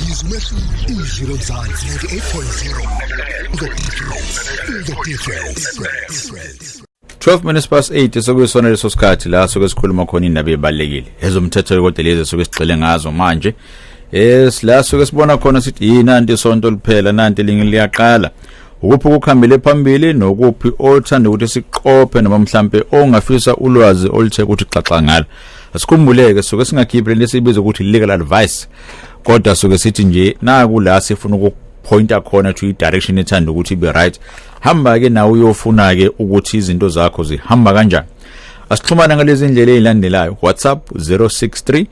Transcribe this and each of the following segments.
Yizo umehluko izwi lomzansi 98.0 The difference The difference 12 minutes past 8 sokuyisona leso sikhathi la soke sikhuluma khona indaba ebalekile ezomthetho lokode lezi soke sigxile ngazo manje yes la soke sibona khona sithi yini anti sonto liphela nanti lingi liyaqala ukuphi ukukhambele phambili nokuphi othanda ukuthi siqophe noma mhlambe ongafisa ulwazi oluthe ukuthi xaxa ngalo asikhumbuleke soke singakhiphi lento esibiza ukuthi legal advice kodwa suke sithi nje naku la sifuna ukuphointa khona to i-direction ethanda ukuthi ibe right hamba-ke nawe uyofuna-ke ukuthi izinto zakho zihamba kanjani asixhumane ngalezi ndlela ezilandelayo whatsapp 063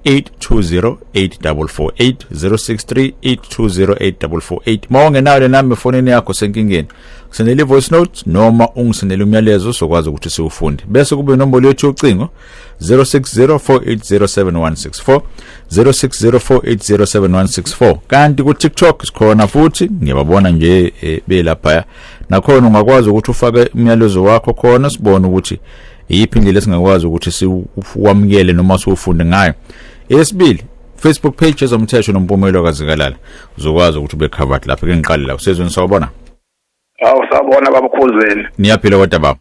8208448 063 8208448 uma ungenayo le namba efonini yakho senkingeni sendela i-voice note noma ungisendela umyalezo sokwazi ukuthi siwufunde bese kube inombolo yethu yocingo 0604807164 0604807164 kanti ku TikTok sikhona futhi ngiyababona nje eh, belapha nakhona ungakwazi ukuthi ufake umyalezo wakho khona sibone ukuthi iyiphi indlela esingakwazi ukuthi siwamukele noma siwufunde ngayo esibili Facebook page ezomthetho nompumelo kazikalala uzokwazi ukuthi ube covered lapha ke ngiqale la usezweni sawubona Awu sabona babukhuzeni. Niyaphila kodwa baba.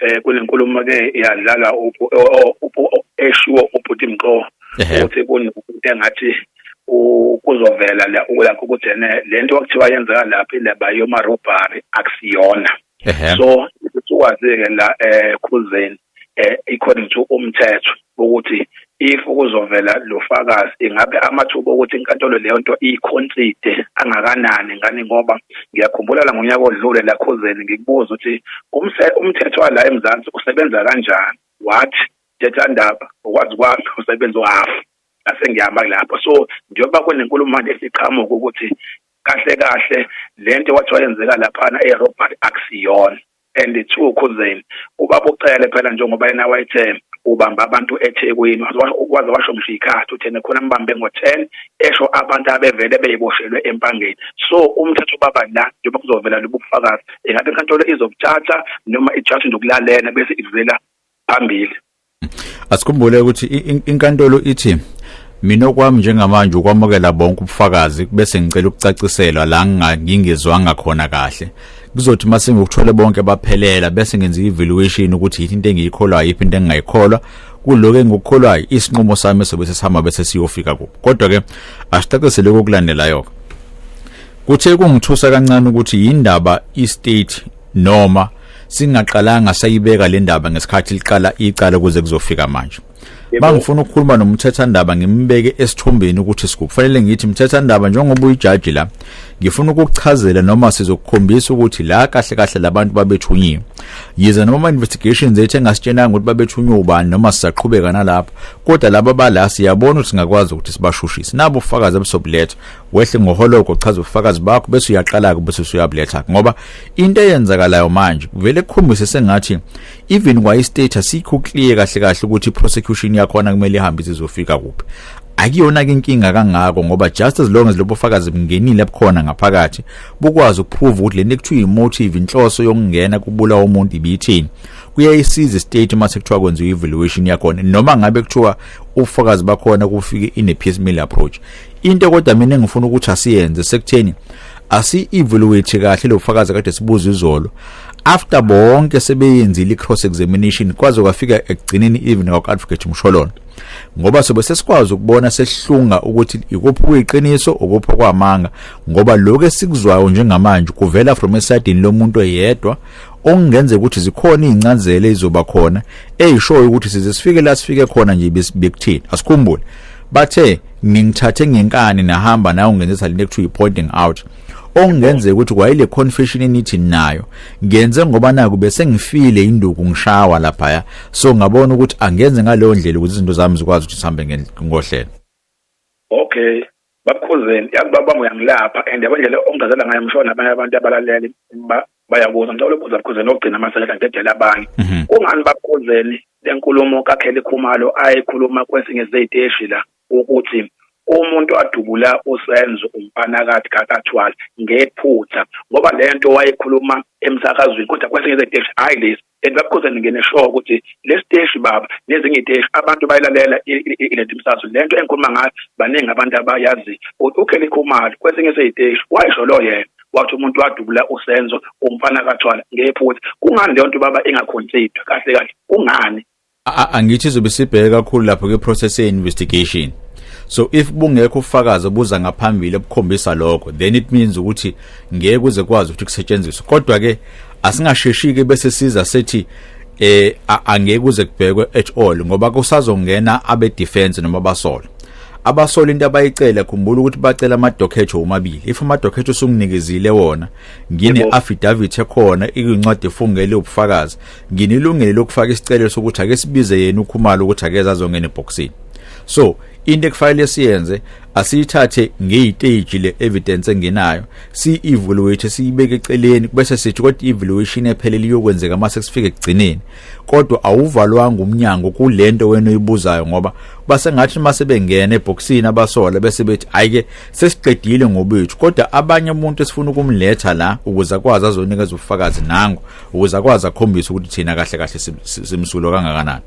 eh kunenkulumo ke iyadlala eshiwo ubhuti Mqo ukuthi kunokuthi engathi kuzovela la ukulakho ukuthi ene lento okuthiwa yenzeka lapha ilaba yoma robbery akusiyona so ukwazi ke la eh khuzeni eh according to umthetho ukuthi if kuzovela lo fakazi ingabe amathuba okuthi inkantolo leyo nto iyikhonside angakanani ngani ngoba ngiyakhumbula la ngonyaka odlule lakhuzeni ngikubuza ukuthi umthetho wala eMzansi usebenza kanjani what thetha ndaba ukwazi kwami usebenza uhafu ngase ngihamba kulapho so njengoba kunenkulumo manje esiqhamuka ukuthi kahle kahle lento kwathiwa yenzeka laphana eRobert akusiyona and it's true khuzeni ubaba ucele phela njengoba yena wayethe ubamba abantu eThekwini waze washo ngisho ikhathi uthene khona mbambe ngo10 esho abantu abevele beyiboshelwe empangeni so umthetho baba la njengoba kuzovela lobufakazi ingabe inkantolo izokuthatha noma ijaji ndokulalela bese ivela phambili asikhumbule ukuthi inkantolo ithi mina okwami njengamanje ukwamukela bonke ubufakazi bese ngicela ukucaciselwa la ngingezwanga khona kahle kuzothi uma sengikuthole bonke baphelela bese ngenza i-evaluation ukuthi yini into engiyikholwayo yiphi into engingayikholwa kuloko engikukholwayo isinqumo sami sobe sesihamba bese siyofika kuphi kodwa-ke asicaciseleke okulandelayo-ke kuthe kungithusa kancane ukuthi yindaba i-state noma singaqalanga sayibeka le ndaba ngesikhathi liqala icala kuze kuzofika manje bangifuna ukukhuluma nomthethandaba ngimbeke esithombeni ukuthi siku kufanele ngithi mthethandaba njengoba uyijaji la ngifuna ukukuchazela noma sizokukhombisa ukuthi la kahle kahle labantu babethunyiwe yize noma investigations ethe ngasitshenanga ukuthi babethunywe ubani noma sisaqhubeka nalapho kodwa laba bala siyabona ukuthi singakwazi ukuthi sibashushise nabo ufakazi abesobuletha wehle ngoholoko uchaza ubufakazi bakho bese uyaqala-ke bese usuyabuletha ngoba into eyenzakalayo manje kuvele kukhombise sengathi even kwayi-status sikho clear kahle kahle ukuthi i-prosecution yakhona kumele ihambe izizofika kuphi akuyona-ke inkinga kangako ngoba just as long as lobo fakazi bungenile ebukhona ngaphakathi bukwazi ukuprove ukuthi le nto ekuthiwa yi-motive inhloso yokungena kubulawa umuntu ibiyithini kuyayisiza istate uma sekuthiwa kwenziwa i-evaluation yakhona noma ngabe kuthiwa ubufakazi bakhona kufike in a piecemeal approach into kodwa mina engifuna ukuthi asiyenze sekutheni asi evaluate kahle lo fakazi kade sibuza izolo after bonke sebeyenzile i-cross examination kwaze kwafika ekugcineni even kwaka-advocate msholona ngoba sobe sesikwazi ukubona sehlunga ukuthi ikuphi kuyiqiniso ukuphi kwamanga ngoba lokho esikuzwayo njengamanje kuvela from esidini lomuntu eyedwa okungenzeka ukuthi zikhona izincazelo ezizoba khona ezishoyo ukuthi size sifike la sifike khona nje bekuthini asikhumbule bathe ningithathe ngenkani nahamba nawe ungenzisa lento ekuthiwa i-pointing out okungenzeka ukuthi kwayile confession enithi nayo ngenze ngoba naku bese ngifile induku ngishawa laphaya so ngabona ukuthi angenze ngaleyo ndlela ukuthi izinto zami zikwazi ukuthi sihambe ngohlelo okay babukhuzeni yazi baba uyangilapha and yabona indlela ongazela ngayo ngisho nabanye abantu abalaleli bayakuzwa ngicela ukubuza bukhuzeni ogcina amaseleka ngedela abanye mhm. kungani babukhuzeni lenkulumo kaKelly Khumalo ayikhuluma kwesinye seziteshi la ukuthi umuntu adubula usenzo umpanakathi kakathwala ngephutha ngoba lento wayekhuluma emsakazweni kodwa kwesinye seziteshi hayi lesi and babukhoza ningene sure ukuthi lesiteshi baba nezinye iteshi abantu bayilalela ilethi msaso lento engikhuluma ngayo baningi abantu abayazi ukuthi uKelly Khumalo kwesinye seyiteshi wayisho lo yena wathi umuntu wadubula usenzo umfana kathwala ngephutha kungani leyo nto baba ingaconsider kahle kahle kungani angithi izobe sibheke kakhulu lapho ke process ye investigation so if bungekho ufakazi obuza ngaphambili obukhombisa lokho then it means ukuthi ngeke kuze kwazi ukuthi kusetshenziswe kodwa ke asingasheshike bese siza sethi eh angeke kuze kubhekwe at all ngoba kusazongena abe defense noma basola abasola into abayicela khumbula ukuthi bacela amadokhetho omabili if amadokhetho usunginikezile wona ngine affidavit ekhona ikuncwadi efungele ubufakazi nginilungele lokufaka isicelo sokuthi ake sibize yena ukhumalo ukuthi akeze azongena ebhoksini so into ekufanele siyenze asiyithathe ngeyiteji le evidence enginayo si evaluate siyibeke eceleni bese sithi kodwa evaluation ephelele iyokwenzeka mase sifike ekugcineni kodwa awuvalwanga umnyango kulento wena oyibuzayo ngoba basengathi mase bengena eboxini abasola bese bethi ayike sesiqedile ngobethu kodwa abanye umuntu esifuna ukumletha la ukuze akwazi azonikeza ubufakazi nangu ukuze akwazi akhombise ukuthi thina kahle kahle simsulo kangakanani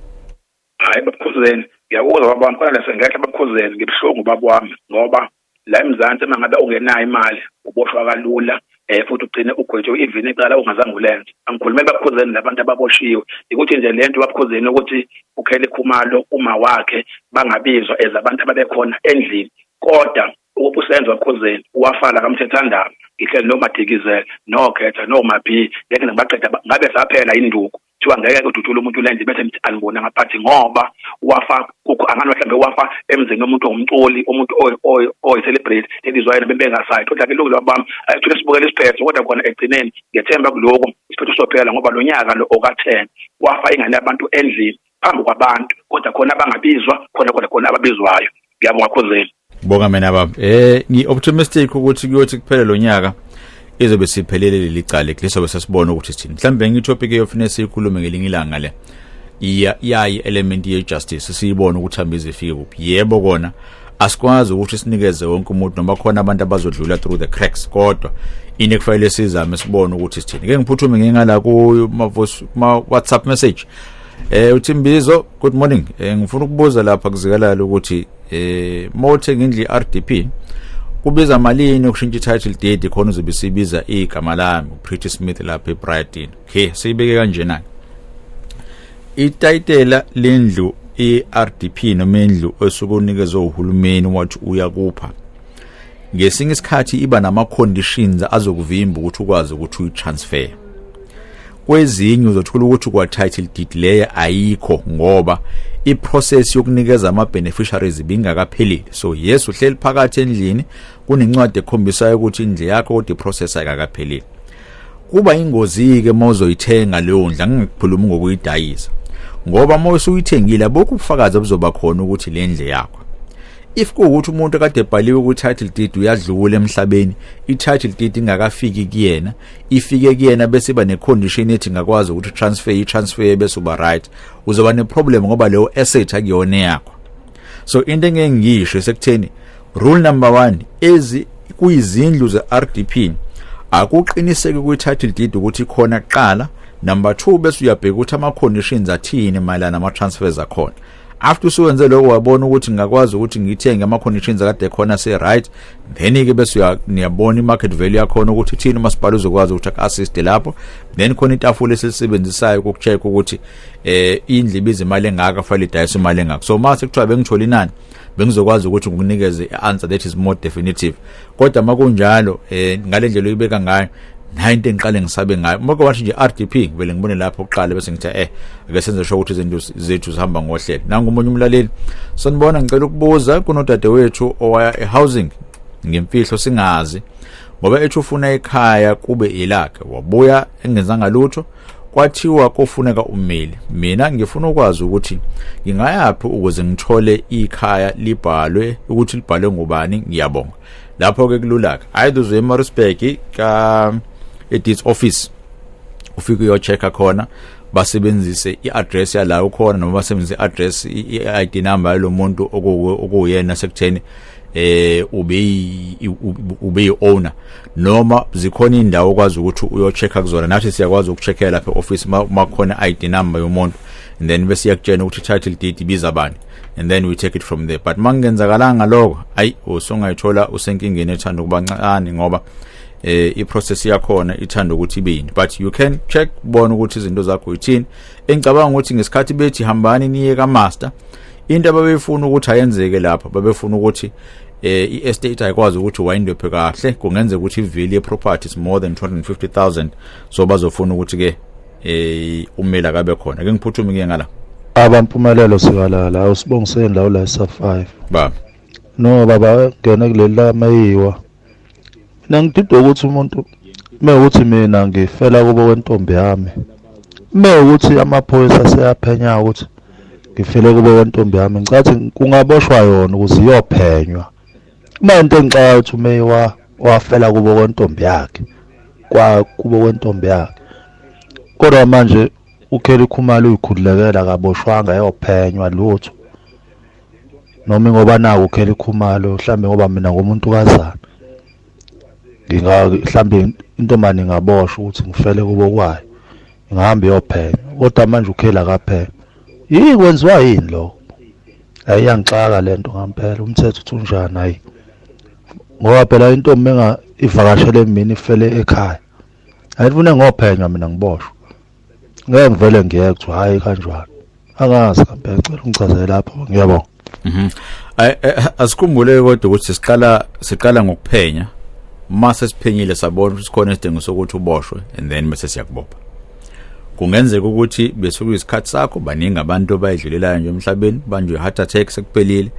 hayi babukhuzeni ngiyakuzwa babami kodwa lase ngekhe babukhuzeni ngibuhlungu babami ngoba la emzansi uma ngabe ungenayo imali uboshwa kalula eh futhi ugcine ugwetshwe ivini icala ungazange ulenze angikhulumeli babukhuzeni labantu ababoshiwe ukuthi nje lento babukhuzeni ukuthi ukhele khumalo uma wakhe bangabizwa ezabantu ababekhona endlini kodwa Ukuphi uSenzo Khuzeni, uwafala kaMthethandaba, ngihleli noMadikizela, noKhetha, noMabhiyi, ngeke ngibaqeda ngabe saphela induku. Kuthiwa ngeke kudutshule umuntu lenze bese ngithi anibona ngaphathi ngoba wafa kukho angani mhlawumbe wafa emzini womuntu ongumculi, umuntu oyi-celebrate ebizwa yena bebengasayi. Kodwa-ke ilungelo bami ayithule sibukele isiphetho kodwa khona ekugcineni ngethemba kuloko isiphetho sophela ngoba lo nyaka lo okaThen wafa ingane yabantu endlini phambi kwabantu kodwa khona abangabizwa khona khona khona ababizwayo ngiyabonga khuzeni bonga mina baba eh ngi optimistic ukuthi kuyothi kuphele lonyaka izobe siphelele leli cala lisobe sesibona ukuthi sithini mhlawumbe ngitopic eyofuna siyikhulume ngelinye ilanga le iya yayi element ye justice siyibona ukuthi hamba izifike kuphi yebo kona asikwazi ukuthi sinikeze wonke umuntu noma khona abantu abazodlula through the cracks kodwa ini kufanele sizame sibone ukuthi sithini ke ngiphuthume ngingala ku ma WhatsApp message Eh uThimbizo good morning eh, ngifuna ukubuza lapha kuzikalala ukuthi eh mothe ngindli RDP kubiza malini ukushintsha title deed khona uzobe sibiza igama lami uPretty Smith lapha eBrighton okay siyibeke kanjena itayitela lendlu iRDP noma indlu osuke unikezwe uhulumeni wathi uyakupha ngesinye isikhathi iba nama conditions azokuvimba ukuthi ukwazi ukuthi uyitransfer kwezinye uzothola ukuthi kwa title deed leya ayikho ngoba i process yokunikeza ama beneficiaries bingakaphelile so yes uhleli phakathi endlini kunencwadi ekhombisayo ukuthi indle yakho kodwa i process ayikakaphelile kuba ingozi ke mozoyithenga leyo ndla ngikukhuluma ngokuyidayisa ngoba uma usuyithengile abukho ubufakazi obuzoba khona ukuthi le ndle yakho if kuwukuthi umuntu kade ebhaliwe ku-title deed uyadlula emhlabeni i-title deed ingakafiki kuyena ifike kuyena bese iba necondition ethi ngakwazi ukuthi transfer i-transfer bese uba right uzoba neproblem ngoba leyo asset akuyona yakho so into engeke ngiyisho sekutheni rule number one ezi kuyizindlu ze-rdp akuqiniseki kwi-title deed ukuthi khona kuqala number two bese uyabheka ukuthi ama-conditions athini mayelana nama-transfers akhona after usuwenze lokho wabona ukuthi ngingakwazi ukuthi ngithenge ama conditions akade khona se right then ke bese uyabona imarket value yakhona ukuthi thina umasipala uzokwazi ukuthi assist lapho then khona itafula esilisebenzisayo ukucheck ukuthi eh indlu ibiza imali engaka fanele idayise imali engaka so mase kuthiwa bengithola inani bengizokwazi ukuthi ngikunikeze i-answer that is more definitive kodwa makunjalo eh ngale ndlela oyibeka ngayo nayo into engiqale ngisabe ngayo maka wathi nje RDP ngivele ngibone lapho kuqala bese ngithi eh ake senze sho ukuthi izinto zethu zihamba ngohlelo nangu umunye umlaleli sanibona ngicela ukubuza kunodade wethu owaya ehousing ngemfihlo singazi ngoba ethi ufuna ekhaya kube ilakhe wabuya engenzanga lutho kwathiwa kofuneka ummeli mina ngifuna ukwazi ukuthi ngingayaphi ukuze ngithole ikhaya libhalwe ukuthi libhalwe ngubani ngiyabonga lapho ke kululaka hayi duze eMaritzburg ka edits office ufike uyochecka khona basebenzise i-address yala ukhona noma basebenzise i-address i-ID number yalomuntu okuyena sekutheni eh ube ube owner noma zikhona indawo okwazi ukuthi uyochecka kuzona nathi siyakwazi ukucheckela lapha e-office uma khona i-id number yomuntu and then bese iyakutshena ukuthi title deed ibiza bani and then we take it from there but mangenzakalanga lokho ayi usungayithola usenkingeni ethanda ukuba ncane ngoba eh iprocess yakhona ithanda ukuthi ibe yini but you can check bona ukuthi izinto zakho yithini engicabanga ukuthi ngesikhathi bethi hambani niye ka master into ababefuna ukuthi ayenzeke lapha babefuna ukuthi eh i-estate ayikwazi ukuthi wayindwephe kahle kungenzeka ukuthi i-value ye-property is more than 250000 so bazofuna ukuthi-ke eh umeli akabe khona ke ngiphuthume ke ngala abampumelelo sikalala awusibongiseni la ula sa 5 baba no baba ngene kuleli lamayiwa Mina ngididwa ukuthi umuntu uma ukuthi mina ngifela kubo kwentombi yami, uma ukuthi amaphoyisa aseyaphenya ukuthi ngifele kubo kwentombi yami, ngicathi kungaboshwa yona ukuze iyophenywa. Uma into engixaka ukuthi ume wa wafela kubo kwentombi yakhe, kwa kubo kwentombi yakhe. Kodwa manje uKelly Khumalo uyikhululekela akaboshwanga ayophenywa lutho. noma ngoba naku khela ikhumalo mhlambe ngoba mina ngomuntu kazana nginga mhlambe intombane ingaboshwa ukuthi ngifele kubo kwayo ngihamba iyophenya kodwa manje ukhela kaphela yini kwenziwa yini lo hayi yangixaka lento ngampela umthetho uthi unjani hayi ngoba phela intombi enga ivakashele mina ifele ekhaya ayifune ngophenywa mina ngiboshwa ngeke ngivele ngiyeke kuthiwa hhayi kanjalo angazi kambe ngicela ungichazele lapho ngiyabonga mhm. eh, eh, asikhumbule kodwa ukuthi siqala siqala ngokuphenya uma sesiphenyile sabona ukuthi sikhona isidingo sokuthi uboshwe and then bese siyakubopha kungenzeka ukuthi besuke isikhathi sakho baningi abantu abayidlulelayo nje emhlabeni banjwe heart attack sekuphelile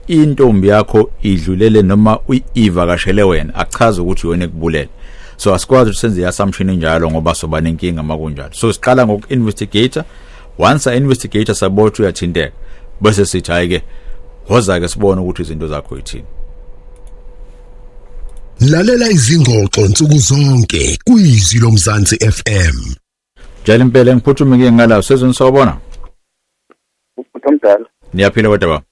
intombi yakho idlulele noma uyivakashele wena achaze ukuthi yona ekubulele so asikwazi ukuthi senze assumption enjalo ngoba soba nenkinga makunjalo so siqala ngoku-investigator once a-investigator sabona ukuthi uyathinteka bese sithi hhayi-ke woza-ke sibone ukuthi izinto zakho yithini lalela izingxoxo nsuku zonke kuyizwi lomzansi fm Jali impela ngiphuthume ngike ngala sezweni sawubona. Umuntu omdala. Niyaphila kodwa baba.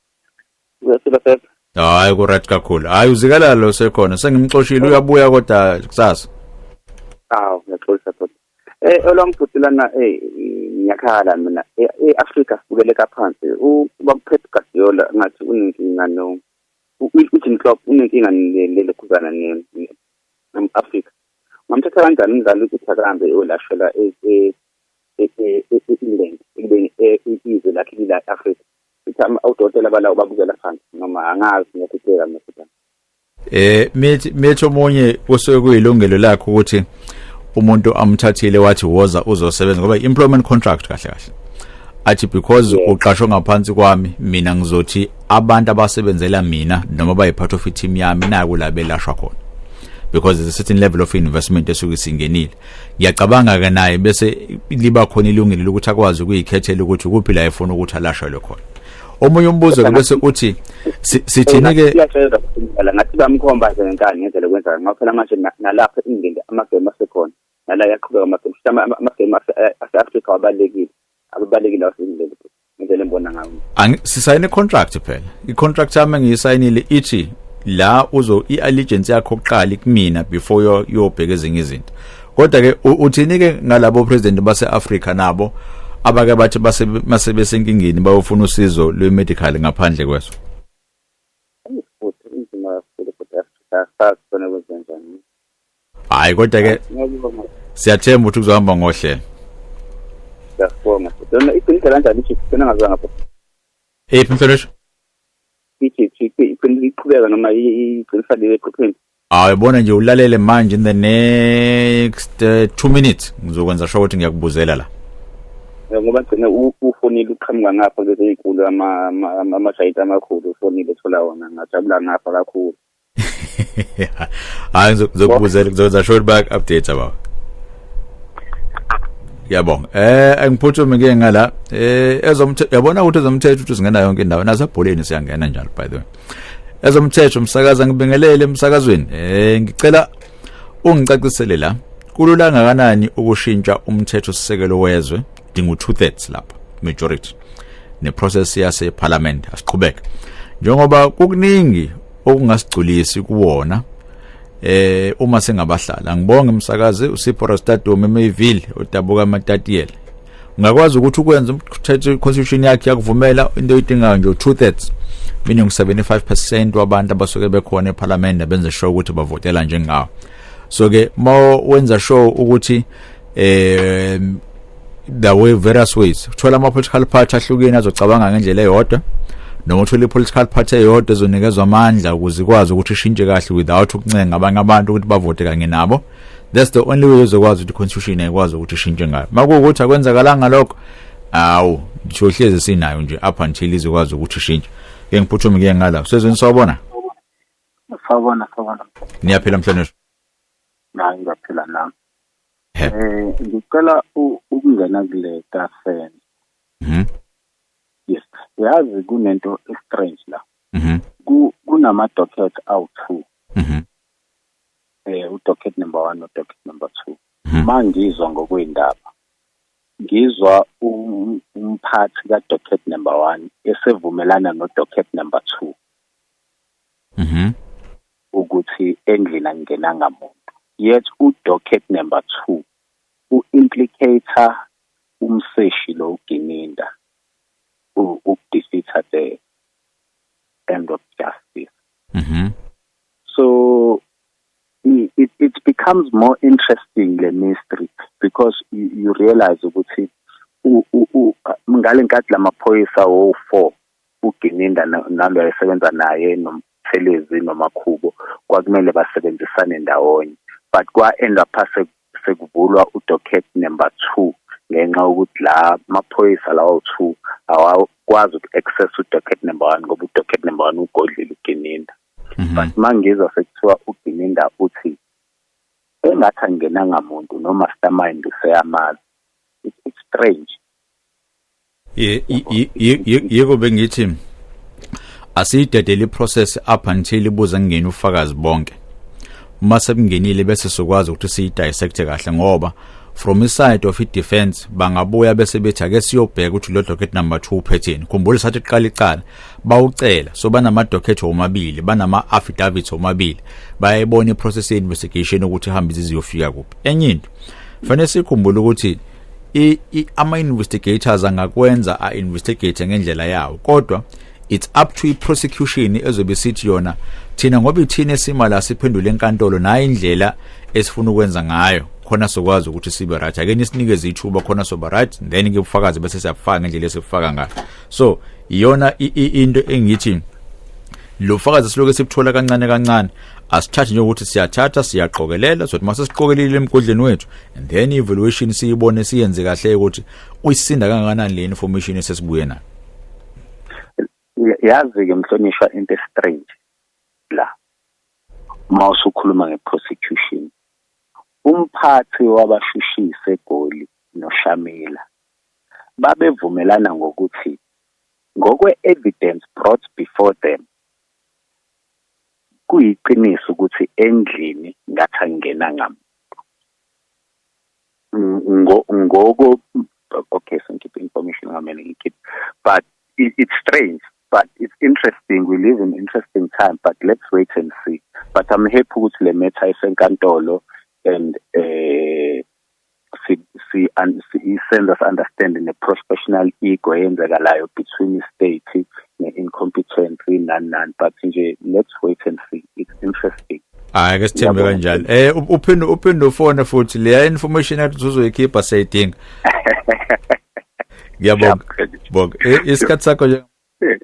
Uyaphila sasa. Hayi ku right kakhulu. Hayi uzikala lo sekhona sengimxoshile uyabuya kodwa kusasa. Aw ngiyaxolisa kodwa. Eh olwamfuthi lana eh ngiyakhala mina eAfrika eh, eh, sibukeleka phansi. Ubakuphethe Guardiola ngathi unenkinga no. UJim Klopp unenkinga lelekhuzana ne Africa. Ngamthatha kanjani umdlali ukuthi akahambe eyolashela e-England ekubeni izwe lakhe lila e-Afrika. Sithi odokotela balawo babukela phansi noma angazi ngiyakutshela mina futhi. Eh mithi mithi omunye kusuke kuyilungelo lakhe ukuthi umuntu amthathile wathi woza uzosebenza ngoba employment contract kahle kahle athi because uqashwe ngaphansi kwami mina ngizothi abantu abasebenzela mina noma bayi part of team yami naku la belashwa khona because there's a certain level of investment esuke singenile ngiyacabanga ke naye bese liba khona ilungile ukuthi akwazi ukuyikhethela ukuthi kuphi la efuna ukuthi alashelwe khona omunye umbuzo ke bese uthi sithini ke la ngathi bamkhomba nje ngenkani ngendlela kwenza ngoba phela manje nalapha ingende amagame asekhona nala yaqhubeka amagame amagame ase-Africa wabalekile ababalekile waseNgilandi ngivele ngibona ngawo sisayine contract phela i-contract yami engiyisayinile ithi la uzo i-allegiance yakho kuqala kumina before yobheka ezinye izinto kodwa ke uthini ke ngalabo president base-Africa nabo abake bathi masebesenkingeni bayofuna usizo lwe-medical ngaphandle kweso hayi kodwa ke siyathemba ukuthi kuzohamba ngohlelo siyabonga lona iqiniso kanjani ichiefs sena ngazanga pho ephi mhlonishwa ichiefs iqiniso iqhubeka noma iqiniso lile eqhupheni hayi bona nje ulalele manje in the next 2 uh, minutes ngizokwenza sho ukuthi ngiyakubuzela la eh, ngoba gcine ufonile uqhamuka ngapha lezi zinkulu ama ama ama shayita amakhulu ufonile thola wona ngajabula ngapha kakhulu hayi ngizokubuzela ngizokwenza short back update baba yabonga eh angiphuthume ke ngala eh ezomthetho yabona ukuthi ezomthetho uthi singena yonke indawo nazo ebholeni siyangena njalo by the way ezomthetho umsakaza ngibingelele emsakazweni eh ngicela ungicacisele la kulula ngakanani ukushintsha umthetho sisekelo wezwe dinga u two thirds lapho majority ne process yase parliament asiqhubeke njengoba kukuningi okungasigculisi kuwona eh uma singabahlala ngibonge umsakazi usipho rastadom emayville odabuka amatatiele ungakwazi ukuthi ukwenza umthetho constitution yakhe yakuvumela into oyidingayo nje two thirds meaning 75% wabantu abasuke bekhona eParliament abenze sure ukuthi bavotela njengawo so ke mawenza sure ukuthi eh the way various ways uthola ama political party ahlukene azocabanga ngendlela eyodwa noma uthola i-political party eyodwa ezonikezwa amandla ukuze ikwazi ukuthi ishintshe kahle without ukuncenga abanye abantu ukuthi bavote kanye nabo that's the only way uzokwazi ukuthi constitution ayikwazi ukuthi ishintshe ngayo makuwukuthi akwenzakalanga lokho awu siyohlezi sinayo nje up until izokwazi ukuthi ishintshe ke ngiphuthume ke ngala sezweni sawubona sawubona sawubona niyaphila mhlonishwa nami ngiyaphila nami Eh, ngicela u- ukungena kule kafen Mhm. yes yazi kunento estrange la Mhm. Ku- kunama docket awu-two Mhm. eh udocket number one nodocket number two Mhm. ma ngizwa ngokwey'ndaba ngizwa um- umphathi kadocket number one esevumelana nodocket number two mhm ukuthi endlini angenanga muntu yet udocket number 2 u-implicator umseshi lo ugininda ukudefeater the end of justice mhm so it, it becomes more interesting le mystery because you, you realize ukuthi ngalenkathi lamaphoyisa wo4 uGininda nalo ayesebenza naye nomthelezi nomakhubo kwakumele basebenzisane ndawonye but kwa-end up sekuvulwa udocket number two ngenxa yokuthi la maphoyisa lawo two awakwazi uku-access udocket number one ngoba udocket number one ugodlile ugininda mhm. but mangizwa sekuthiwa ugininda uthi engathi angenanga muntu nomastermind useyamazi it's strange yiko bengithi asiyidedele iprocess up until ibuze kungena ufakazi bonke uma sekungenile bese sikwazi ukuthi siyidissect kahle ngoba from iside of i-defense bangabuya bese bethi ake siyobheka ukuthi lo docket number 2 uphetheni khumbula sathi qala icala bawucela so banama docket omabili banama affidavits omabili bayayibona i-process ye-investigation ukuthi ihamba iziziyofika kuphi enye into fanele sikhumbule ukuthi i, i ama investigators angakwenza a investigate ngendlela yawo kodwa it's up to iprosecution ezobe sithi yona thina ngoba ithina esima la siphendule enkantolo nayo indlela esifuna ukwenza ngayo khona sokwazi ukuthi sibe right ake nisinikeze ithuba khona soba right then ke ubufakazi bese siyabufaka ngendlela esifaka ngayo so iyona into engithi lo fakazi siloke sibuthola kancane kancane asithathe nje ukuthi siyathatha siyaqokelela sothi mase siqokelile emgodleni wethu and then evaluation siyibone siyenze kahle ukuthi uyisinda kangakanani le information esesibuye nayo yazi ke mhlonishwa into strange la uma usukhuluma ngeprosecution umphathi wabashushise egoli noshamila babevumelana ngokuthi ngokwe-evidence brought before them kuyiqiniso ukuthi endlini ngathi angena ngam ngoko okay so ngikhiphe information ngamele ngikhiphe but it, it's strange but it's interesting we live in interesting time but let's wait and see but i'm happy ukuthi le matter isenkantolo and eh si, si, un, si isenza si understand ne professional ego eyenzekalayo between state ne incompetency nani nani but nje let's wait and see it's interesting hayi ke sithembe kanjalo eh uphinde uphinde ufone futhi leya information ethi uzoyikhipha sayidinga ngiyabonga bonga isikhathi sakho nje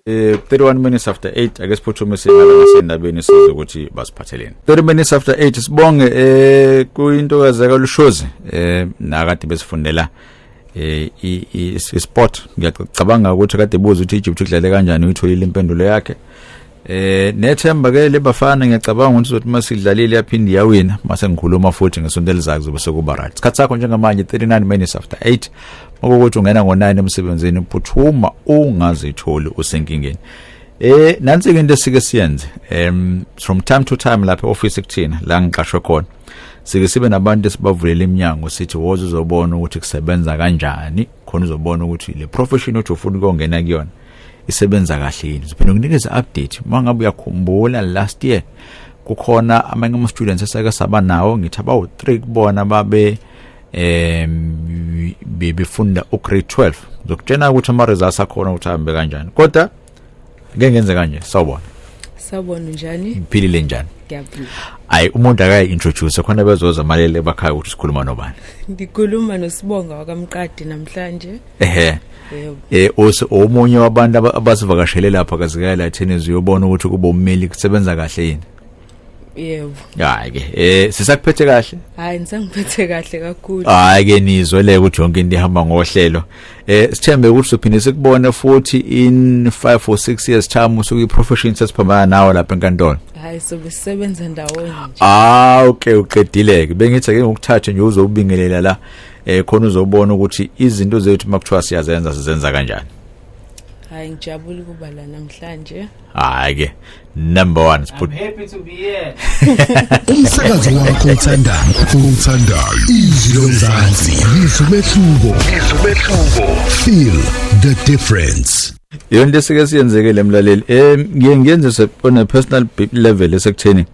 Eh 31 minutes after 8 ake siphuthume singala nasendabeni size ukuthi basiphatheleni. 30 minutes after 8 sibonge eh kuyintokazi kaLushozi eh nakade besifundela eh i sport ngiyacabanga ukuthi kade buza ukuthi iJupiter idlale kanjani uyitholile impendulo yakhe. Eh nethemba ke lebafana ngiyacabanga ukuthi uzothi masidlalile yaphinde yawina mase ngikhuluma futhi ngesonto elizayo kuzobe sekuba right. Isikhathi sakho njengamanje 39 minutes after 8 makokuthi ungena ngo9 emsebenzini phuthuma ungazitholi usenkingeni. Eh nansi ke into esike siyenze em from time to time lapha office kuthina la ngiqashwe khona. Sike sibe nabantu esibavulela iminyango sithi woza uzobona ukuthi kusebenza kanjani khona uzobona ukuthi le profession othi ufuna ukungena kuyona isebenza kahle yini siphinde ukunikeza update mangabe uyakhumbula last year kukhona amanye ama students esake saba nawo ngithi abawu 3 kubona babe em bebefunda u grade 12 ngizokutshena ukuthi ama results akhona ukuthi ahambe kanjani kodwa ngeke ngenze kanje sawubona sawubona njani ngiphilile njani ngiyaphila ayi umuntu akayi introduce khona bezoza malele bakhaya ukuthi sikhuluma nobani ngikhuluma nosibonga wakamqadi namhlanje ehe eh ose omunye wabantu abasivakashele lapha kazikaya la tennis uyobona ukuthi kuba ummeli kusebenza kahle yini yebo hayi ke eh sisakuphethe kahle hayi ngisangiphethe kahle kakhulu hayi ke nizwe le ukuthi yonke into ihamba ngohlelo eh sithembe ukuthi sophinde sikubone futhi in 5 or 6 years time usuke iprofession sesiphambana nawe lapha enkantolo hayi so besebenza ndawonye ah okay uqedile ke bengithi ke ngokuthatha nje uzobingelela la eh khona uzobona ukuthi izinto zethu makuthiwa siyazenza sizenza kanjani hayi ngijabule ukuba la namhlanje hayi ke number 1 siput I'm happy to be here umsakazo wakho othandayo othandayo izwi lomzansi izwi mehluko izwi mehluko feel the difference yonke sike siyenzekele emlaleli eh ngiye ngenze on a personal level esekutheni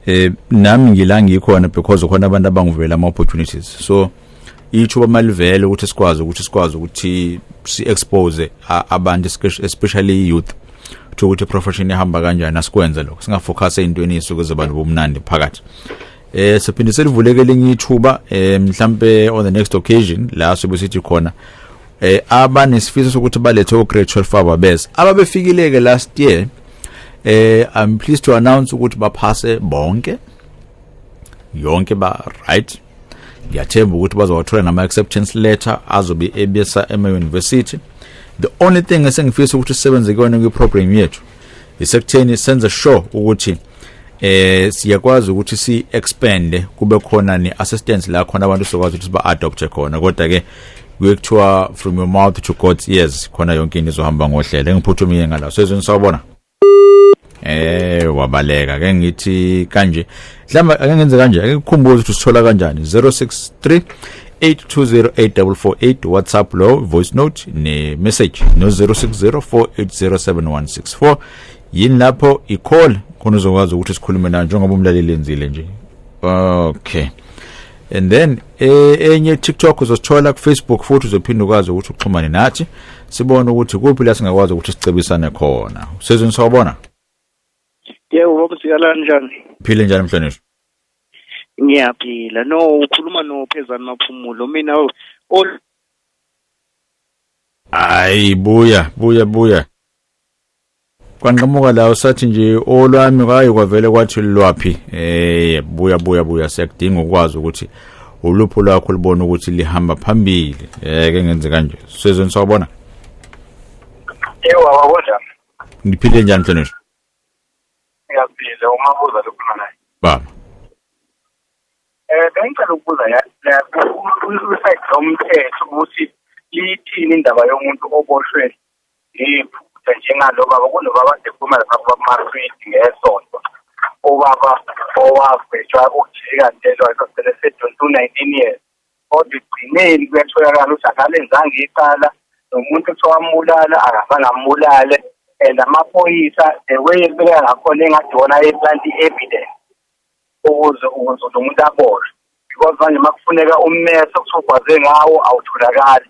eh nami ngila ngikhona because khona abantu abangivela ama opportunities so ithuba malivele ukuthi sikwazi ukuthi sikwazi ukuthi si expose abantu especially youth ukuthi ukuthi profession ihamba kanjani asikwenze lokho singafocus ezintweni esuke zobantu bomnandi phakathi eh siphinde selivuleke linye ithuba eh mhlambe on the next occasion la sobe sithi khona eh abanesifiso sokuthi balethe uGreat Shelf Faba bese ababefikileke last year eh i'm pleased to announce ukuthi baphase bonke yonke ba right ngiyathemba ukuthi bazowathola nama acceptance letter azobe ebesa ema university the only thing esengifisa ukuthi sisebenze kuyona kwi program yethu isekutheni senze sure ukuthi eh siyakwazi ukuthi si expand kube khona ne assistance la khona abantu sokwazi ukuthi ba adopt khona kodwa ke kuyekuthiwa from your mouth to god's ears khona yonke into izohamba ngohlelo engiphuthumile ngala sezweni sawubona eh wabaleka ke ngithi kanje mhlawumbe ake ngenze kanje ake kukhumbuze ukuthi usithola kanjani 063 8208448 WhatsApp lo voice note ne message no 0604807164 yini lapho i call khona uzokwazi ukuthi sikhulume nayo njengoba umlaleli enzile nje okay and then eh, enye e, TikTok uzosithola ku Facebook futhi uzophinde ukwazi ukuthi uxhumane nathi sibone ukuthi kuphi la singakwazi ukuthi sicebisane khona usezweni sawubona yebo baba sikala kanjani phile njani mhlonishwa ngiyaphila no ukhuluma no phezani maphumulo mina ol hayi buya buya buya kwanqamuka la usathi nje olwami kwaye kwavele kwathi lwaphi eh buya buya buya siyakudinga ukwazi ukuthi ulupho lwakho libona ukuthi lihamba phambili eh ke ngenze kanje sizweni sawubona Ewa wabona ngiphile njani mhlonishwa ngiyaphila uma kuza lokhona naye baba eh bengicela ukubuza ya usayithi omthetho ukuthi lithini indaba yomuntu oboshwe iphutha njengalo baba kunobaba dekhuluma lapha kwamaswidi ngesonto ubaba owavejwa ukujika ntelwa esasele sedonsa u-nineteen years kodwa ekugcineni kuyatholakala ukuthi akalenzanga icala nomuntu kuthiwa wambulala akazange ambulale and amaphoyisa the way ebeka ngakhona engathi wona ayeplant i-evidence ukuze ukuze lo muntu aboshe because manje uma kufuneka ummeso kuthiwa ugwaze ngawo awutholakali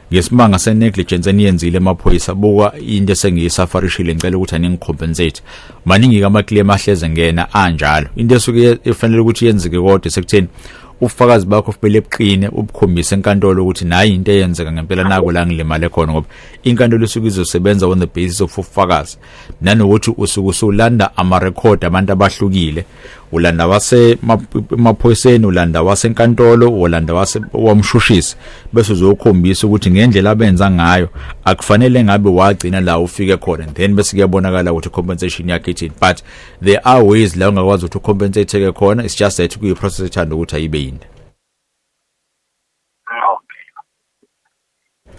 ngesimanga senegligence eniyenzile emaphoyisa buka into esengiyisafarishile ngicela ukuthi aningicompensate maningi-ke amaclaim ahleze ngena anjalo into esuke efanele ukuthi yenzeke kodwa sekutheni ubufakazi bakho kumele buqine ubukhombise enkantolo ukuthi nayi into eyenzeka ngempela nako la ngilimale khona ngoba inkantolo isuke izosebenza on the basis of ubufakazi nanokuthi usuke usulanda amarekhodi abantu abahlukile ulanda wase maphoyiseni ulanda wasenkantolo ulanda wase wamshushisi bese uzokhombisa ukuthi ngendlela abenza ngayo akufanele ngabe wagcina la ufike khona then bese kuyabonakala ukuthi compensation yakhe ithini but there are ways la ungakwazi ukuthi compensate ke khona it's just that kuyi process ethanda ukuthi ayibe yini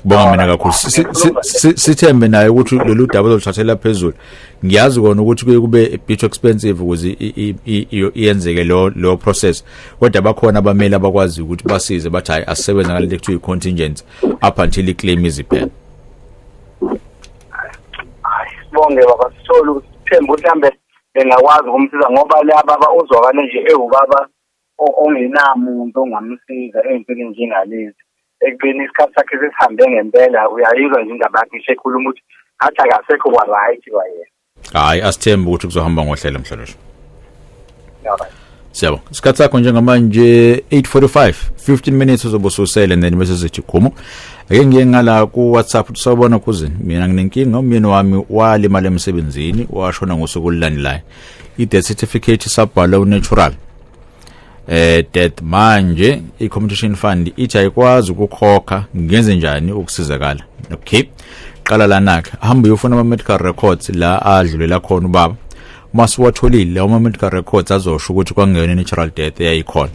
Bonga mina kakhulu. Sithembe naye ukuthi lolu daba loluthathela phezulu. Ngiyazi kona ukuthi kuye kube a bit expensive ukuze iyenzeke lo lo process. Kodwa bakhona abameli abakwazi ukuthi basize bathi hayi asisebenza ngalento ekuthiwa i-contingent up until i-claim iziphela. Bonge baba sithole ukuthemba ukuthi hambe bengakwazi ukumsiza ngoba laba uzwakale nje ewubaba ongenamuntu ongamsiza ey'ntweni njengalezi ekubeni isikhathi sakhe sesihambe ngempela uyayizwa nje indaba yakhe isekhuluma ukuthi athi akasekho kwa-right kwayena hhayi asithembe ukuthi kuzohamba ngohlelo mhlonishwa siyabonga isikhathi sakho njengamanje 845 15 minutes uzobe ususele then bese sithi khumo ake ngiye ngala ku-whatsapp ukuthi sawubona khuzini mina nginenkinga umyeni wami walimala emsebenzini washona ngosuku olulandelayo i-death certificate isabhalwe unatural eh death manje i-competition fund ithi ayikwazi ukukhokha ngenze njani ukusizakala okay qala lana-ke hamba uyofuna ama-medical records la adlulela khona ubaba uma siwatholile lawo ma-medical records azosho ukuthi kwangeyona i-natural death eyayikhona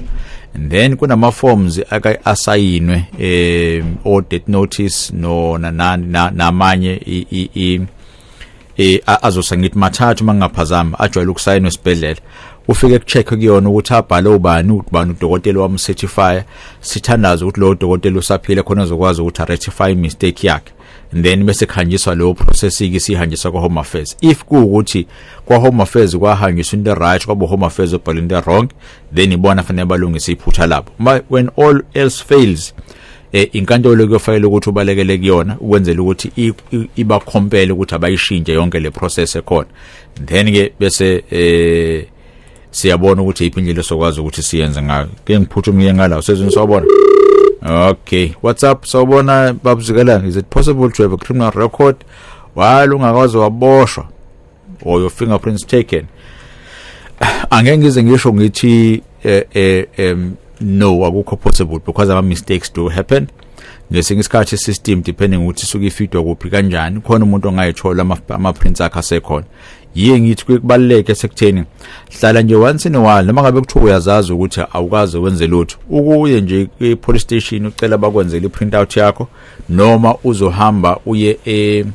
and then kunama-forms asayinwe um o-death notice no namanye eh azosa ngithi mathathu mangaphazama ajwayele ukusayina esibhedlela ufike kucheck kuyona ukuthi abhale ubani ubani udokotela wam certify sithandaza ukuthi lo dokotela usaphile khona zokwazi ukuthi rectify mistake yakhe then bese khanjiswa leyo process ke sihanjiswa kwa home affairs if kuukuthi kwa home affairs kwahanjiswa into right kwabo home affairs obhala into wrong then ibona fanele balungise iphutha labo when all else fails eh inkantolo kuyofanele ukuthi ubalekele kuyona ukwenzela ukuthi ibakhompele ukuthi abayishintshe yonke le process ekhona then ke bese eh siyabona ukuthi iphi indlela sokwazi ukuthi siyenze ngayo ke ngiphuthumiye ngalawo sezweni sawubona okay what's up sawubona babuzikelana is it possible to have a criminal record while ungakwazi waboshwa or your fingerprints taken angeke ngize ngisho ngithi eh, eh, em no akukho possible because ama mistakes do happen ngesinye isikhathi system depending ukuthi suke ifidwa kuphi kanjani khona umuntu ongayithola ama prints akhe asekhona yiye ngithi kubaluleke sekutheni hlala nje once in a while noma ngabe kuthiwa uyazazi ukuthi awukaze wenze lutho ukuye nje kwi-police station ucela bakwenzele i-print out yakho noma uzohamba uye e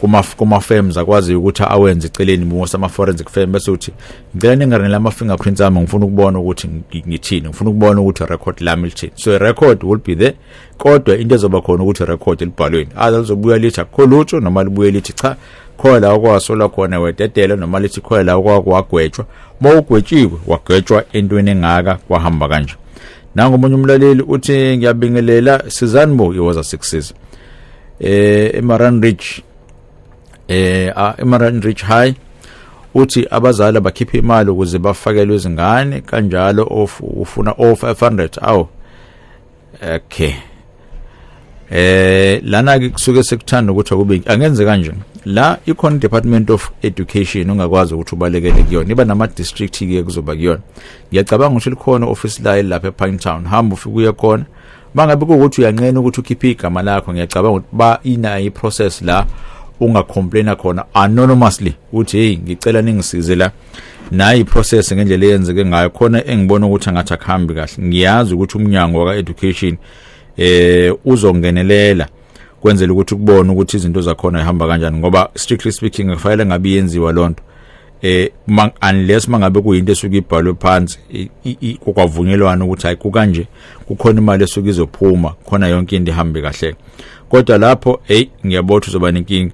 kuma kuma firms akwazi ukuthi awenze iceleni musa ama forensic firm bese uthi ngicela ningarinela ama fingerprints ami ngifuna ukubona ukuthi ngithini ngifuna ukubona ukuthi record lami lithini so record will be there kodwa into ezoba khona ukuthi record libhalweni aza lizobuya lithi akho lutho noma libuye lithi cha khona la okwasola khona wededela noma lithi khona la okwagwetshwa uma ugwetshiwe wagwetshwa entweni engaka kwahamba kanje nangu omunye umlaleli uthi ngiyabingelela sizani bo iwaza sikusiza eh eMaran Ridge eh eMaran Ridge High uthi abazali bakhiphe imali ukuze bafakelwe izingane kanjalo of ufuna o 500 awu okay eh lana ke kusuke sekuthanda ukuthi akube angenze kanje la ikhona department of education ungakwazi ukuthi ubalekele kuyona iba nama district ke kuzoba kuyona ngiyacabanga ukuthi likhona office la lapha ePine Town hamba ufike uye khona mangabe kuwukuthi uyanqena ukuthi ukhiphe igama lakho ngiyacabanga ukuthi ba ina i process la ungacomplaina khona anonymously uthi hey ngicela ningisize la nayi iprocess ngendlela eyenzeke ngayo khona engibona ukuthi angathi akuhambi kahle ngiyazi ukuthi umnyango waka-education eh uzongenelela kwenzela ukuthi kubone ukuthi izinto zakhona ihamba kanjani ngoba strictly speaking kufanele ngabe yenziwa lonto eh man, unless mangabe kuyinto esuke ibhalwe phansi kwavunyelwana ukuthi hayi kukanje kukhona imali esuke izophuma khona yonke into ihambe kahle kodwa lapho hey ngiyabotha uzoba nenkinga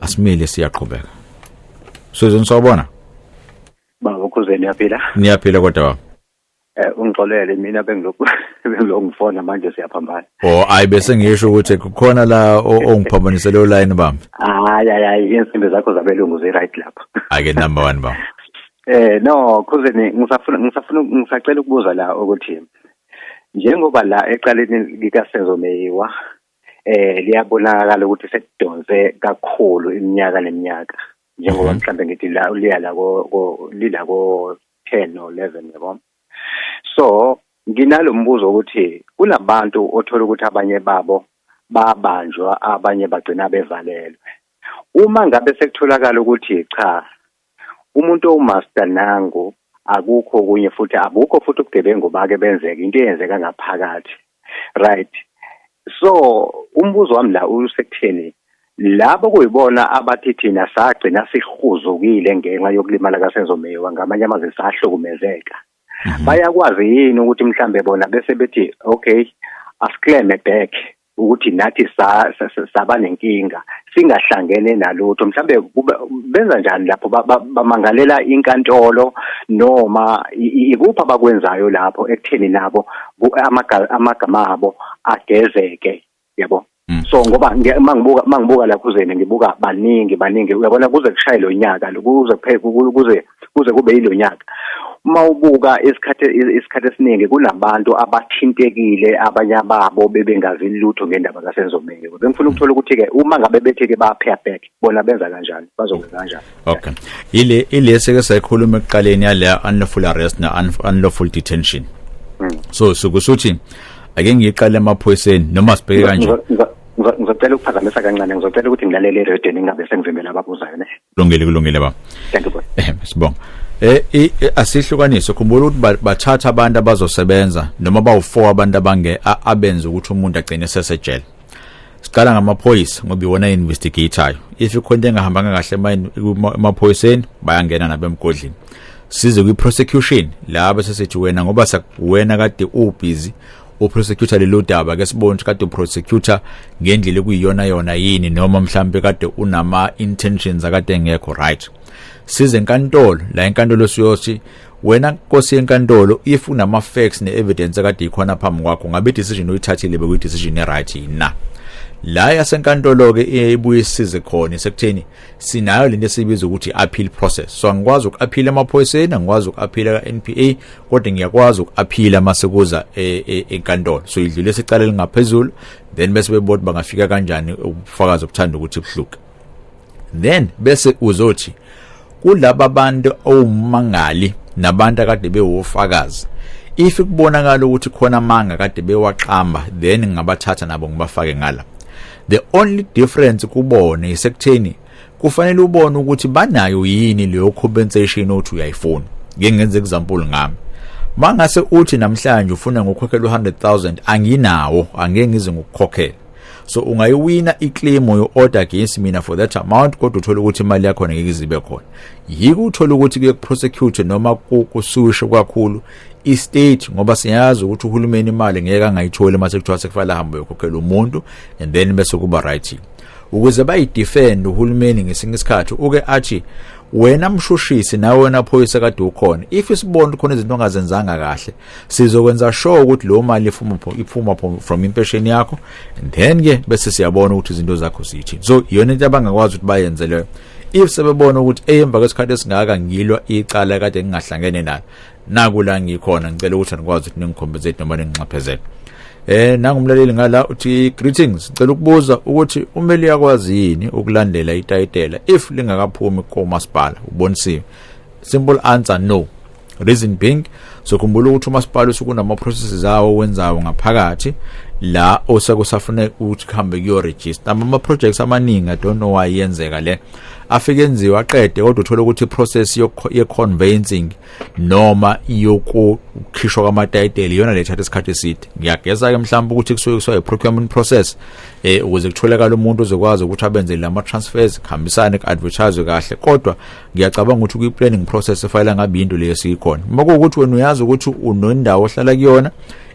asimile siyaqhubeka Susan sawubona Baba kuze niyaphila Niyaphila kodwa baba Eh ungixolele mina bengilokhu bengilokhu ngifona manje siyaphambana Oh ayi bese ngisho ukuthi kukhona la ongiphambanisele oline bami Hayi hayi insimbi zakho zabelungu zi right lapha Ake number 1 baba Eh no khuzeni ngisafuna ngisafuna ngisacela ukubuza la ukuthi njengoba la eqaleni likasezo meyiwa eh liyabonakala ukuthi sekudonse kakhulu iminyaka neminyaka njengoba mhm. mhlambe ngithi la uliya la ko lila ko 10 or 11 yabo so nginalombuzo ukuthi kunabantu othola ukuthi abanye babo babanjwa abanye bagcina bevalelwe uma ngabe sekutholakala ukuthi cha umuntu owumaster nangu akukho okunye futhi abukho futhi ubugebengu bake benzeke into eyenzeka ngaphakathi right so umbuzo wami la usekutheni labo kuyibona abathi thina sagcina sihuzukile ngenxa yokulimala kasenzomewa ngamanye amazwi sahlukumezeka mhm. bayakwazi yini ukuthi mhlambe bona bese bethi okay asikleme back ukuthi nathi saba nenkinga singahlangene nalutho mhlambe benza njani lapho bamangalela inkantolo noma ikuphi abakwenzayo lapho ekutheni nabo amagama abo agezeke yabo Mm. so ngoba mangibuka mangibuka laphuzeni ngibuka baningi baningi uyabona kuze kushaye lonyaka kuze kuphele kuze kuze kube yilonyaka uma ubuka isikhathi isikhathi esiningi kunabantu abathintekile abanye ababo bebengazi lutho ngendaba kaSenzomeni bengifuna ukuthola ukuthi ke uma ngabe bethi ke ba pair back bona benza kanjani bazokwenza kanjani okay ile ile seke sayikhuluma ekuqaleni yale unlawful arrest na unlawful detention hmm. so sukusuthi ake ngiqale emaphoyiseni noma sibheke kanje ngizocela ukuphazamisa kancane ngizocela ukuthi ngilalele radio ningabe sengivimbela ababuzayo ne kulungile kulungile baba thank you eh sibonga eh, eh asihlukanise khumbula ukuthi bathatha abantu abazosebenza noma bawu4 abantu abange abenza ukuthi umuntu agcine sesejele siqala ngamaphoyisa ngoba iwona investigator if ikhona into engahambanga kahle emaphoyiseni bayangena nabemgodlini size kwi prosecution laba sesithi wena ngoba wena kade ubusy uprosecutor lelo daba ke sibone ukuthi kade uprosecutor ngendlela ekuyiyona yona yini noma mhlambe kade unama intentions akade engekho right size enkantolo la enkantolo siyothi wena nkosi yenkantolo if unama facts ne evidence akade ikhona phambi kwakho ngabe decision uyithathile bekuyi decision e right na la yasenkantolo ke ibuye isize khona sekutheni sinayo lento esibiza ukuthi appeal process so angikwazi ukuaphila emaphoyiseni angikwazi ukuaphila ka-NPA kodwa ngiyakwazi ukuaphila mase kuza e, e, enkantolo so idlule isicala lingaphezulu then bese bebona bangafika kanjani ubufakazi obuthanda ukuthi buhluke then bese uzothi kulaba bantu owumangali nabantu akade bewofakazi if kubonakala ukuthi khona amanga kade bewaqamba then ngabathatha nabo ngibafake ngala the only difference kubona isekutheni kufanele ubone ukuthi banayo yini leyo compensation othi uyayifuna ngeke ngenze example ngami mangase uthi namhlanje ufuna ngokhokhela u100000 anginawo angeke ngize ngokukhokhela so ungayiwina iclaim yo order against mina for that amount kodwa uthola ukuthi imali yakho ngeke izibe khona yiko uthola ukuthi kuye kuprosecute noma kusuwishe kakhulu i-state ngoba siyazi ukuthi uhulumeni imali ngeke angayitholi uma sekuthiwa sekufanele ahambe uyokhokhela umuntu and then bese kuba right ukuze bayidefend uhulumeni ngesinye isikhathi uke athi wena mshushisi nawe wena phoyisa kade ukhona if isibona khona izinto ongazenzanga kahle sizokwenza sure ukuthi lo mali iphuma iphuma from impession yakho and then ke bese siyabona ukuthi izinto zakho zithini so yona into abangakwazi ukuthi bayenze leyo if sebebona ukuthi eyemva kwesikhathi esingaka ngilwa icala kade ngingahlangene nalo naku la ngikhona ngicela ukuthi anikwazi ukuthi ningikhombizate noma ninginxephezele eh nangumlaleli ngala uthi greetings ngicela ukubuza ukuthi umeli yakwazi yini ukulandela itayitela if lingakaphumi komasipala ubonisiwe simple answer no reason being sokhumbula ukuthi umasipala usukunama processes awo wenzayo ngaphakathi la osekusafuna ukuthi kuhambe kuyo register ama projects amaningi i don't know why yenzeka le afike enziwa aqede kodwa uthola ukuthi process ye conveyancing noma yokukhishwa kwama title iyona le thatha isikhathi eside ngiyageza ke mhlawumbe ukuthi kusuke kusuka i procurement process eh ukuze kutholakala umuntu ozokwazi ukuthi abenze lama transfers kuhambisane kuadvertise kahle kodwa ngiyacabanga ukuthi kwi planning process efayela ngabe into leyo siyikhona uma kuwukuthi wena uyazi ukuthi unendawo ohlala kuyona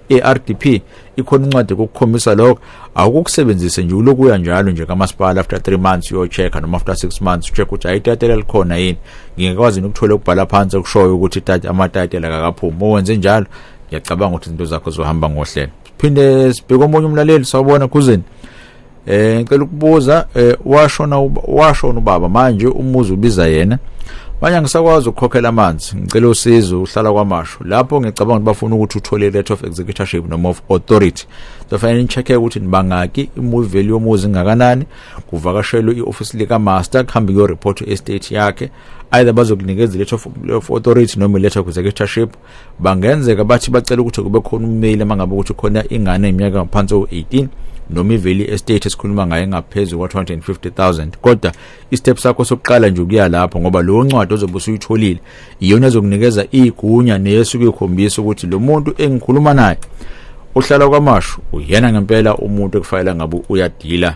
eRDP ikhona incwadi kokukhombisa lokho awukukusebenzise nje ulokuya njalo nje kamasipala after 3 months uyochecka noma after 6 months ucheck ukuthi ayitatela likhona yini ngingekwazi nokuthola ukubhala phansi okushoyo ukuthi itatela amatatela kakaphumi owenze njalo ngiyacabanga ukuthi izinto zakho zohamba ngohlelo phinde sibheke omunye umlaleli sawubona kuzini eh ngicela ukubuza eh, washona washona ubaba manje umuzi ubiza yena manje angisakwazi ukukhokhela amanzi ngicela usizo uhlala kwamasho lapho ngicabanga ukuthi bafuna ukuthi uthole letter of executorship noma of authority sofanele nicheck ukuthi nibangaki imuvi yomuzi ingakanani kuvakashelwe ioffice lika master kuhambe kuyo report estate yakhe either bazokunikeza letter of authority noma letter of executorship bangenzeka bathi bacela ukuthi kube khona ummeli uma ngabe ukuthi khona ingane iminyaka ngaphansi o-18 noma iveli estate esikhuluma ngayo engaphezu kwa-250000 kodwa istep sakho sokuqala nje ukuya lapho ngoba lowo ncwadi ozobe usuyitholile iyona ezokunikeza iyigunya neyesuke ikhombisa ukuthi lo muntu engikhuluma naye uhlala kwamashu uyena ngempela umuntu ekufanele ngabe uyadila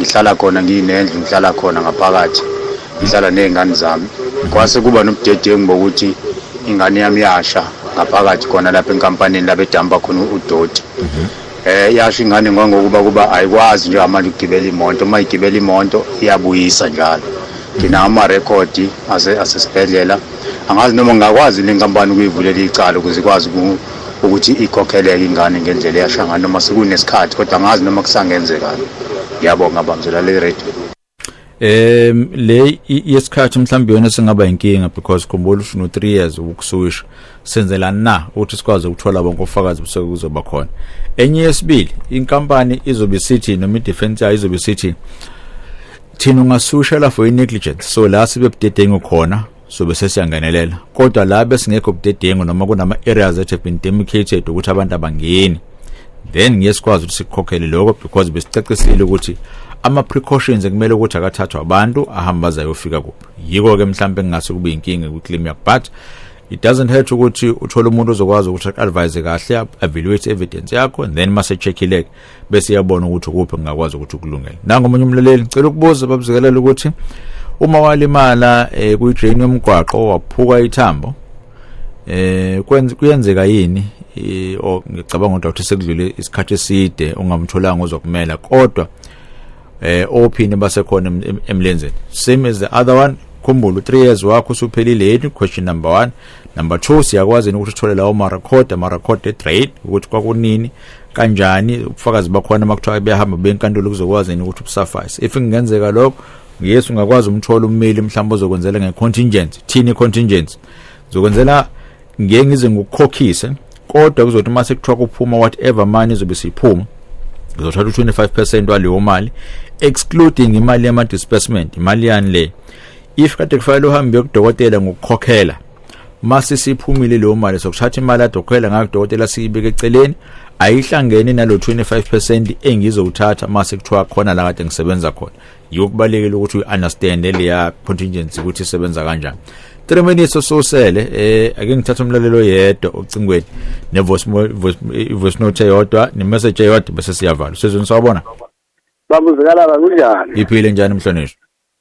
ngihlala khona nginendlu ngihlala khona ngaphakathi ngihlala nezingane zami kwase kuba nobudedengu bokuthi ingane yami yasha ngaphakathi khona lapha enkampanini lapha edamba khona udoti mhm. eh yasho ingane ngokuba kuba ayikwazi nje manje ukugibela imoto uma igibela imoto iyabuyisa njalo ngina ama record ase asesibhedlela angazi noma ngakwazi lenkampani ukuyivulela icala ukuze ikwazi ukuthi ikhokheleke ingane ngendlela eyasha ngayo noma sekunesikhathi kodwa angazi noma kusangenzeka ngiyabonga bamzela le radio em le yesikhathi mhlawumbe yona singaba inkinga because khumbula ushunu 3 years ukusuwisha senzela na ukuthi sikwazi ukuthola bonke ofakazi bese kuzoba khona enye yesibili inkampani izobe sithi noma idefense yayo izobe sithi thina ungasusha la for negligence so la sibe budedengu khona sobe sesiyangenelela kodwa la besingekho budedengu noma kunama areas that have been demarcated ukuthi abantu abangeni then ngeke sikwazi ukuthi sikhokhele lokho because besicacisile ukuthi ama precautions ekumele ukuthi akathathwa abantu ahamba azayofika kuphi yiko ke mhlawumbe engase kube inkinga ku claim yakho but it doesn't hurt ukuthi uthole umuntu ozokwazi ukuthi advise kahle evaluate evidence yakho and then mase checkile bese yabona ukuthi kuphi ngingakwazi ukuthi kulungele nango omunye umlaleli ngicela ukubuza babuzikelela ukuthi uma walimala eh, kuyidrain yomgwaqo waphuka ithambo eh kuyenzeka yini eh, o ngicabanga ukuthi sekudlule isikhathi eside ungamtholanga uzokumela kodwa eh ophini basekhona emlenzeni same as the other one khumbula u3 years wakho usuphelile yini question number 1 number 2 siyakwazi ukuthi uthole lawo ma record ama record e trade ukuthi kwakunini kanjani ubufakazi bakhona makuthiwa beyahamba benkantolo kuzokwazi yini ukuthi ubusuffice if kungenzeka lokho yes ungakwazi umthola ummeli mhlawumbe ozokwenzela ngecontingent thini contingent zokwenzela ngeke ngize ngikukhokhise kodwa kuzothi uma sekuthiwa kuphuma whatever money izobe siphuma ngizothatha u-25 percent waleyo mali excluding imali yama-disbursement imali yani le if kade kufanele uhambe yokudokotela ngokukhokhela mase siphumile leyo mali sokuthatha imali adokhwela ngayo dokotela siyibeke eceleni ayihlangene nalo 25% engizowuthatha mase kuthiwa khona la kade ngisebenza khona yokubalekela ukuthi uunderstand leya contingency ukuthi isebenza kanjani 3 minutes ososele eh ake ngithatha umlalelo yedwa ocingweni ne voice voice note yodwa ne message yodwa bese siyavala sizweni sawubona babuzikala kunjani iphile njani mhlonishwa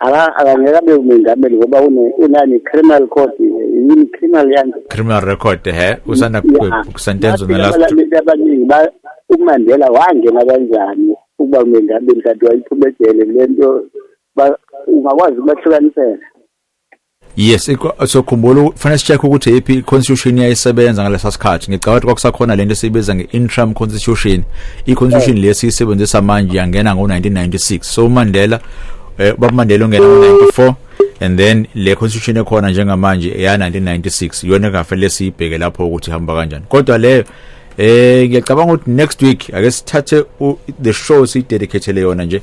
akangeke abe umengameli ngoba unani criminal court yini criminal yanje criminal record he usanda kusentenza nalabantu umandela wangena kanjani ukuba umengameli kanti wayiphuma ejele lento ungakwazi ukubahlukanisela Yes, sokhumbula ufanele sicheck ukuthi iphi iconstitution yayisebenza ngalesa sikhathi. Ngicabanga ukuthi kwakusakhona lento esibiza ngeInterim Constitution. IConstitution oh. lesi isebenzisa manje yangena ngo1996. So uMandela eh baMandela ongena ngo94 and then le constitution ekhona njengamanje eya 1996 yona engafanele siyibheke lapho ukuthi hamba kanjani. Kodwa leyo eh ngiyacabanga ukuthi next week ake sithathe the show si dedicate le yona nje